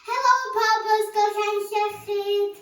Helo pawb o Ysgol Llan Llechyd!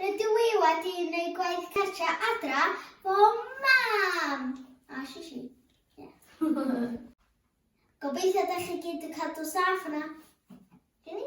Rydw i wedi wneud gwaith cartra adra fo mam! A shishi. Yeah. Gobeithio da chi gyd yn cadw saff yna. Gini?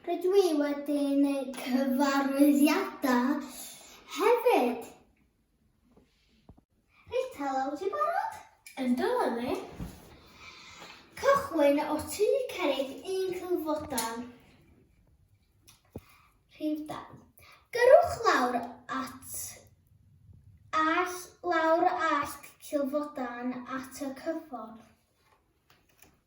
Rydw i wedi gwneud cyfarwyddiadau hefyd. Reit, helo, wyt ti'n barod? Yndw, Lili. Cychwyn o tu cerrig un cylfodan. Rhyw da. Gyrwch lawr at all, lawr all cylfodan at y cyffordd.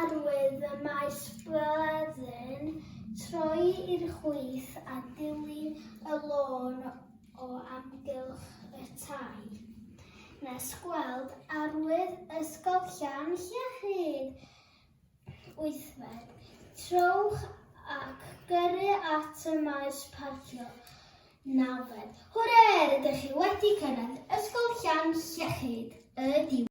Arwydd y mae Sbwydden troi i'r chwith a dilyn y lôn o amgylch y tai, nes gweld arwydd Ysgol Llan Llyhid. Wythfed, trowch ac gyrru at y maes parcio. Nawfed, hwre, rydych chi wedi cyrraedd Ysgol Llan Llyhid, y diwedd.